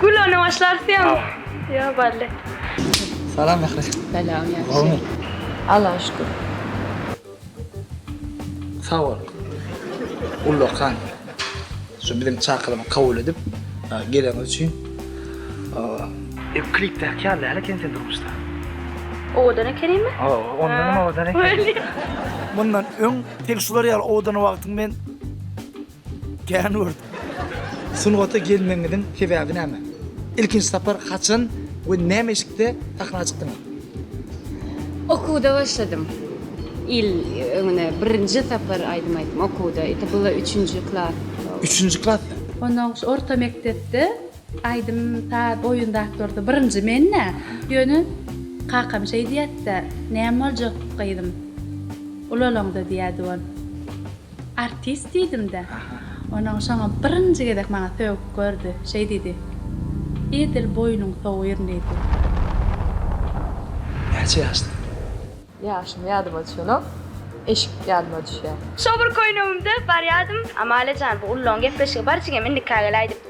Gül ona başlarsyan. Yo balle. Salam Mehri. Salam ýagşy. Allaha şükür. Sag bol. Ullakan. Şu biziň çakylygy kabul edip geleniňiz üçin. Ew klipdäki ýaly däl eken sen durmuşda. Owadan ekenimi? Ondanam owadan eken. Mundan öň tek şular ýaly owadan wagtyň men Kän gördüm. Sungata gelmegiňiziň sebäbi näme? Ilkinji sapar haçan we näme eşikde sahna çykdyňyz? Okuwda başladym. Il öňüne birinji sapar aýdym aýtdym okuwda. Ýa-da bu üçünji klas. Üçünji klasda? Ondan soň orta mekdepde aýdym saz oýun zatlarda birinji men-dä. Ýöne kakam şeý diýýärdi-de, Näme boljak gyzym, ulalaňda diýýärdi ol. Artist diýdim-de. Onuň şoňa birinji gezek maňa sögüp gördi. Şeý diýdi, Edil boýnuň sowýryn diýdi. Näçe ýaşda? Ýaşym ýadyma düşenok. Eşik ýadyma düşýär. Şo bir köýnegimde barýadym. Amalia jan, bu Ululaň gepleşigi bar jigim, indikä gel aýdyp.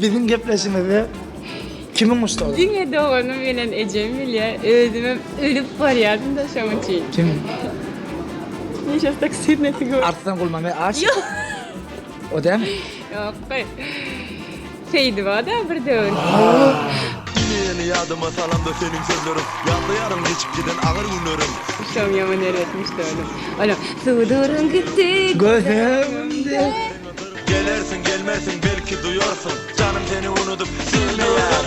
Biziň gepleşigimizde kimiň muşdagy? Diňe doganym bilen ejem bilýär. Özümem ölüp barýardym-da şoň üçin. Kim? Neşe taksir neti gör. Arslan Gulmame aş. Ýok. O dämi? Ýok. Seýdiba-da bir döwür. Ýene ýadyma salamda seniň sözleriň Ýatlaýaryn geçip giden agyr günlerim Şom ýaman erbet muşdagym Olam Suduryň gitdi göz öňümde Gelersiň gelmersiň belki duýarsyň janym seni unudyp söýmeýär.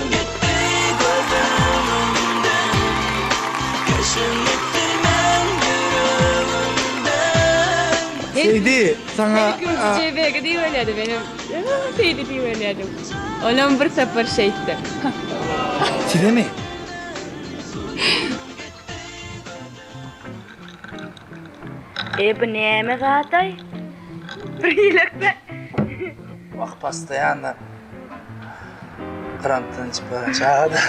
Seýdi saňa Seýdi özi JB-ge diýiberýärdi menem Seýdi diýiberýärdim olam bir sapar şeýtdi. Sizemi. E bu näme zat-aý? Bir ýelekde. Wah pastaýanla krantdan içip baran çaga-da.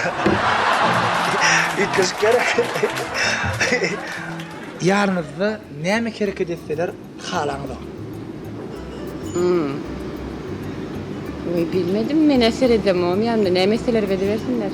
Üýtgeşik gerek. Ýanyňyzda näme hereket etseler halaňyzok? Hum. Oý bilmedim men-ä seredemogam ýanymda näme etselerem edibersinler.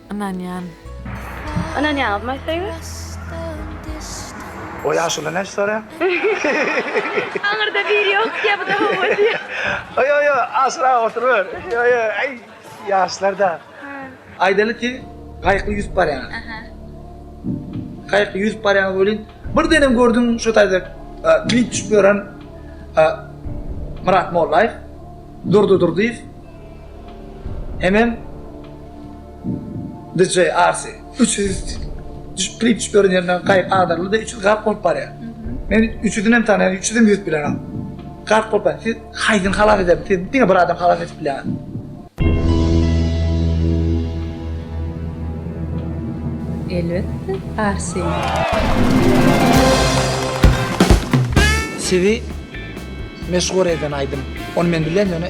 Ynanýan. Ynanýaňyzmy söýgä? O ýaşuly näçe soraýaň? Aňyrda biri ýok diýýä bu-da hawa diýýä. Oý oý oý aşyrak oturyber. Ýo ýo äý ýaşlarda. Aýdaly siz gaýykly ýüzüp barýaňyz. Aha. Gaýykly ýüzüp barýaňyz welin birdenem gördüň şo taýda klip düşüp ýören Myrat Mollaýew, Durdy Durdyýew, Hemem DJ Arsi üç ýüz düşüp klip düşüp ýören ýerinden gaýyk agdaryldy-da üç ýüz gark bolup barýar. Men üç ýüzünem tanaýan üç ýüzem ýüzüp bilenok. Gark bolup barýar. Siz haýsyny halas edersiňiz? Siz diňe bir adamy halas edip bilýäňiz. Elbetde Arsini. Sizi meşhur eden aýdym. Ony men bilýän ýöne.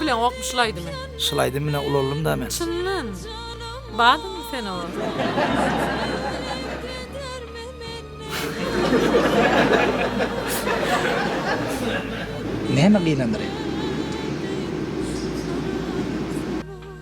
Bilen gopmy şul aýdymy. Şul aýdym bilen ulaldym da men. Çyndan. Bardyňmy sen oňa. Näme gynandyr indi.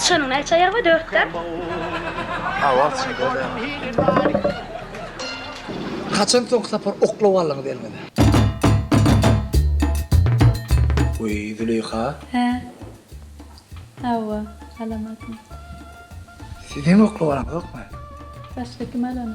Syçanyň näçe aýagy bar? Dörtdä. Awa, çynda-da dörtdä. Haçan soňky sapar oklap aldyňyz eliňize? Weý, Züleýha. Hä? Hawa, alamadym. Siz hem oklap alaňyzokmy? Başga kim alany?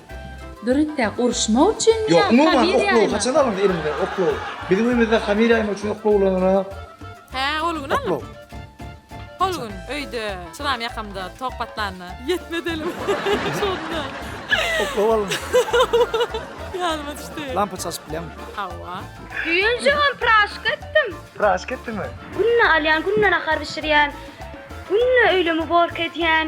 Dürütde uruşmak üçinmi ýa hamir ýaýmak? Ýok, umuman oklogy haçan alyndy elimize oklogy? Biziň öýümizde hamir ýaýmak üçin oklog ulanylýar. Hä, ol gün alnyp. Oklog. Hol gün öýde çyram ýakamda tok patlanda ýetmez elim. Şonda. Oklog alyndy. Ýadyma düşdi. Lampa çalşyp bilýäňmi? Hawa. Düýn jigim praşka etdim. Praşka etdiňmi? Günde alýan, günde nahar bişirýän. Günde öýlem uborka edýän.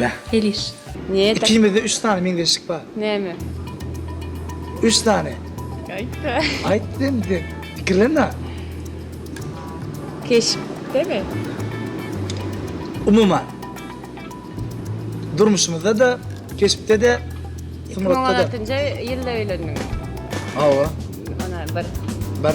Beh. Heliş. Ikimizde üç sany meňzeşlik bar. Näme? Üç sany. Aýtda. Aýt sen sen. Pikirlenme. Keşpdemi? Umuman. Durmuşymyzda da, keşpde de, Iki müň on altynjy ýylda öýlendiňiz. Hawa. Ana bir. Bir.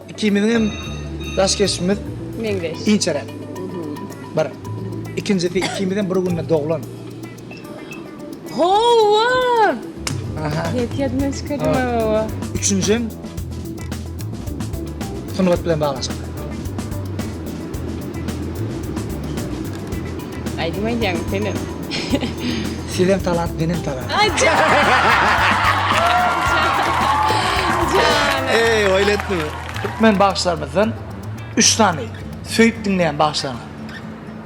Ikimiziň hem daş keşbimiz meňzeş. Inçeräk. Bir. Ikinjisi ikimiz hem bir günde doglan. Howwa! Aha. Ýet ýadymdan çykardyň howwa. Üçünjim sungat bilen baglanyşykly. Aýdym aýdýaňmy senem? Sizem talant, menem talant. Ay can. Can. Eý, oýun etdimi? Türkmen bagşylarymyzdan üç sany söýüp diňleýän bagşylaryňyz.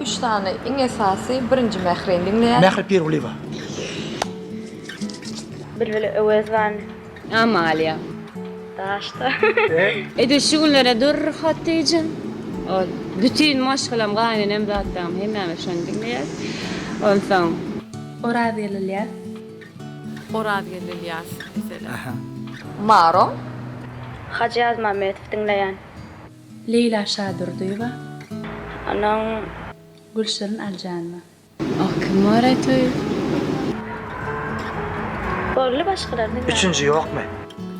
Üç sany iň esasy birinji Mährini diňleýän. Mähri Pirgulyýewa. Bilbil Öwezowany Amalia. Daşda. Edil şu günlere dur Hatijan. Ol bütün maşgalam gaýnenem zatdam hemmämiz şony diňleýäs. Onsoň Oraz Ýelilýas. Oraz Ýelilýas diýseler. Maro. Hajy Ýazmammedow diňleýän. Leýla Şadurdyýewa. Onuň. Gülşirin Aljanowa. Ah kim bar ätüir. Orly başgylaryny bar. Üçünji ýokmy?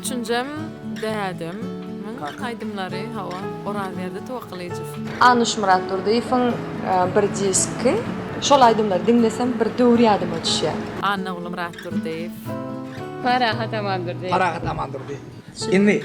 Üçünjem dädem muň aýdymlary hawa Orazberdi Towakgalyjow. Anuşmyrat Durdyýewiň bir diski şol aýdymlary diňlesem bir döwür ýadyma düşýär. Annagulymyrat Durdyýew. Parahat Amandurdyýew. Parahat Amandurdyýew. Indi.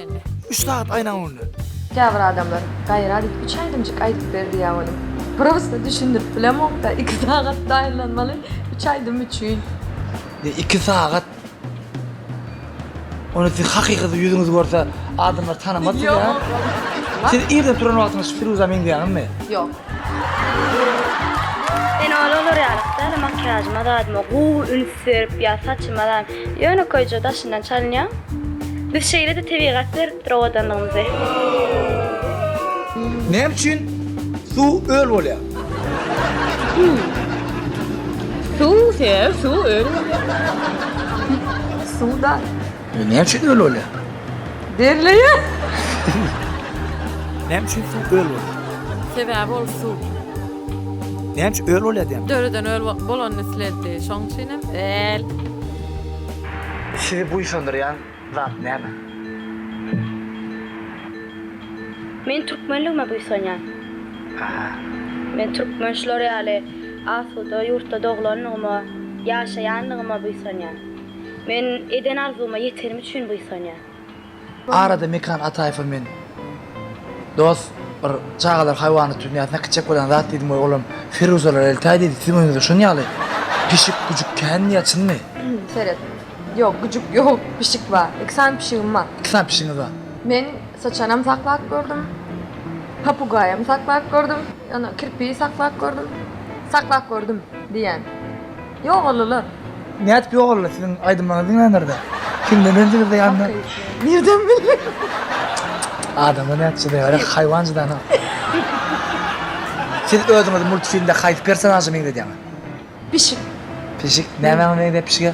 indi. Üç sagat aýnaň öňünde. Käbir adamlar, Gaýrat et, üç aýdymjyk aýdyp ber diýýär onuň. Prosta düşündirip bilemokda, iki sagat taýynlanmaly üç aýdym üçin. Ne iki sagat? Ony siz hakykada ýüzüňizi görse adamlar tanamaz sizi a? Siz irden turan wagtyňyz şu Firuza meňzeýäňizmi? Ýok. Men ol olar ýalak däl, makiýažyma zadyma gowy üns berip ýa saçyma zam, ýönekeýje daşyndan çalynýan. Biz şeýle-de tebigat beripdir owadanlygymyzy. Näme üçin suw öl bolýar? Suw sebäbi suw öl bolýar. Suw da. E, näme üçin öl bolýar? Derleýär. Näme üçin suw öl bolýar? Sebäbi ol suw. Näme üçin öl bolýar diýen? Döreden öl bolanyny isleddi. Şoň üçin hem öl. Sizi buýsandyrýan zat näme? Men türkmenligime buýsanýan. Aha. Men türkmen şular ýaly asuda ýurtda doglandygyma, ýaşaýandygyma buýsanýan. Men eden arzuwyma ýetenim üçin buýsanýan. Arada Mekan Ataýewa men dos bir çagalar haýwanat dünýäsinde kiçek bolan zat diýdim we olam Firuzalar eltäý diýdi siziň öňüňizde şon ýaly pişik güjük kän diýýä çynmy? Seret. Ýok güjük ýok pişik bar. Iki sany pişigim bar. Iki sany pişigiňiz bar. Men syçanam saklap gördüm. Papugaýam saklap gördüm. Ýa kirpigi saklap gördüm. Saklap gördüm diýýän. Ýogalylar. Nädip ýogaldy siziň aýdymlaryňyzy diňlänlerde? Kimden öwrendiňizde ýanyna? Nirden bildi? Adamlar nädip çydaýarlar haýwan çydana. Siz özüňizi multfilmde haýsy personaža meňzedýäňiz? Pişik. Pişik. Nämäňe meňzäp pişige?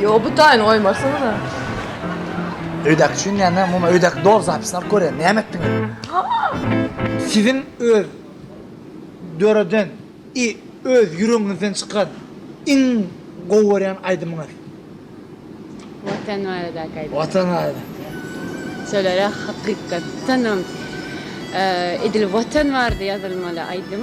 Ýo bu taýyny goýmarsyňyza. Öýdäki üçin näme? Muma öýdäki doly zapisini alyp görýän. Näme etdiňiz? Siziň öz döreden i öz ýüregiňizden çykan iň gowy görýän aýdymyňyz? Watan baradaky aýdym. Watan barada. Şolara hakykatdanam edil watan barada ýazylmaly aýdym.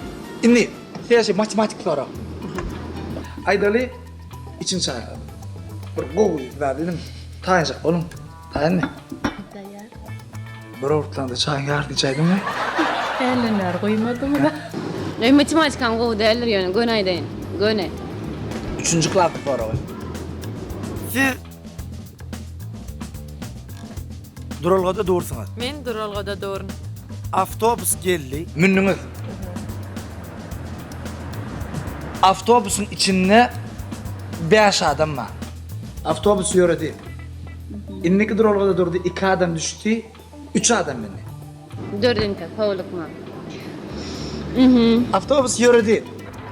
Indi täze matematik sorag. Aýdaly, içiň çarlady. Bir gowy zat idim. Taýynjak boluň. Taýynmy? Taýýar. Bir owurtlanda çaýyň ýaryny içäýdiňmi? Hälden bäri guýmadyň-a. Meň matematikam gowy däldir ýöne göni aýdaýyn. Göni. Üçünji klasyň soragy. Siz Duralgada dursuňyz. Men duralgada durun. Awtobus geldi. Mündiňiz. Awtobusyň içinde bäş adam bar. Awtobus ýöredi. Indiki duralgada durdy, iki adam düşdi. Üç adam mindi. Dördünjä howlukma. Awtobus ýöredi.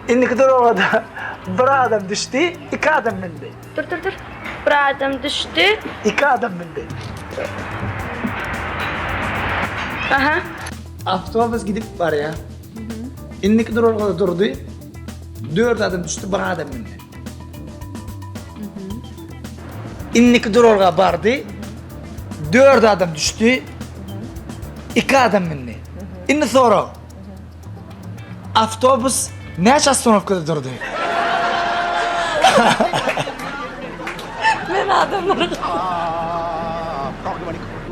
Indiki duralgada bir adam düşdi, iki adam mindi. Dur, dur, dur. Bir adam düşdi. Iki adam mindi. Aha. Awtobus gidip barýar. Indiki duralgada durdy. Dört adam düşdi, bir adam mindi. Indiki duralga bardy. Dört adam düşdi. Iki adam mindi. Indi sorag. Awtobus näçe astronowkada durdy? Men adamlara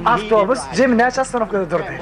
Awtobus jemi näçe astronowkada durdy?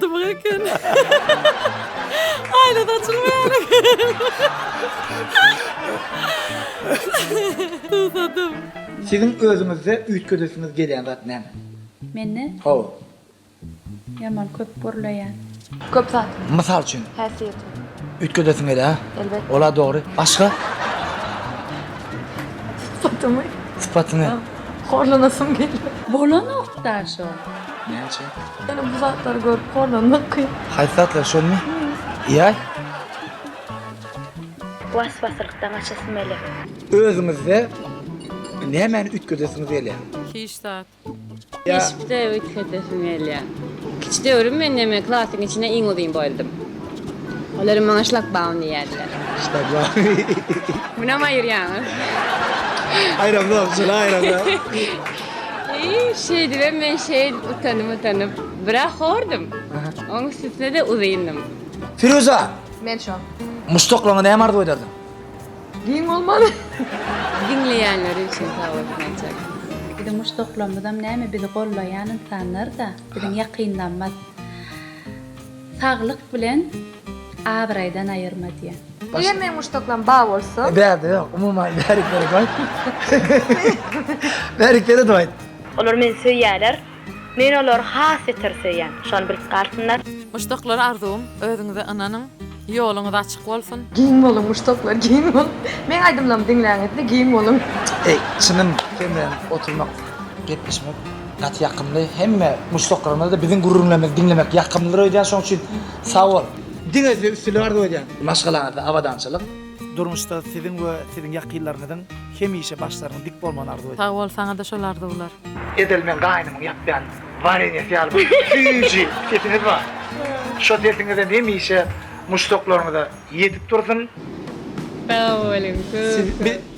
Dymyk eken. Aýna da açylmaýar eken. Susadym. Siziň özüňizde üýtgedesiňiz gelýän zat näme? Mende? Hawa. Ýaman köp gürleýän. Köp zat. Mysal üçin? Häsiýetim. Üýtgedesiň gelýär, ha? Elbetde. Ol-a dogry. Başga? Sypatymy. Sypatyňy. Horlanasym gelýär. Bolanok daşo. Näme üçin? Ýöne bu zatlary görüp horlanmak kyn. Haýsy zatlar şolmy? Ýaý. Waswasylykdan gaçasym gelýär. Özüňizde nämäni üýtgedesiňiz gelýär? Hiç zat. Keşpde üýtgedesim gelýär. Kiçidöwrüm men näme klasyň içinde iň uzyn boýlydym. Olaram maňa şlagbaum diýýärdiler. Şlagbaum. Munam aýyrýaňyz. Aýramzok, şuny aýramzok. Şeýdibem men şeýl utanyp-utanyp, biraz hordum. Oň üstüne-de uzyndym. Firuza! Men şo. Muşdaklaryňa näme arzuw ederdiň? Giň bolmaly. Diňleýänleri üçin sag bolsun aýtjak. Biziň muşdaklarymyzam näme bizi gollaýan ynsanlar-da, biziň ýakynlarymyz. Saglyk bilen abraýdan aýyrma diýen. Eger meň muşdaklam ba bolsa. Bärde ýok umuman bärik berek aýt. Bärik beredip aýt. Olar meni söýýärler. Men olary has beter söýýän. Şony bilip galsynlar. Muşdaklar arzuwym özüňize ynanyň ýoluňyz açyk bolsun. Giň boluň muşdaklar giň boluň. Meň aýdymlarymy diňläňizde giň boluň. Eý çynym sen bilen oturmak gepleşmek. Gaty ýakymly hemme muşdaklaryňyzda biziň gürrüňlerimizi diňlemek ýakymlydyr öýdýän şoň üçin sagbol. Diňe size üstünlik arzuw edýän. Maşgalaňyzda abadançylyk. Durmuşda siziň we siziň ýakynlaryňyzyň hemişe başlarynyň dik bolmagyny arzuw edýän. Sagbol saňada şol arzuwlar. Edil men gaýnymyň ýapýan warenýasy ýaly bir süýji sesiňiz bar. Şo sesiňizem hemişe muşdaklaryňyza ýetip dursun. Sag boluň köp köp.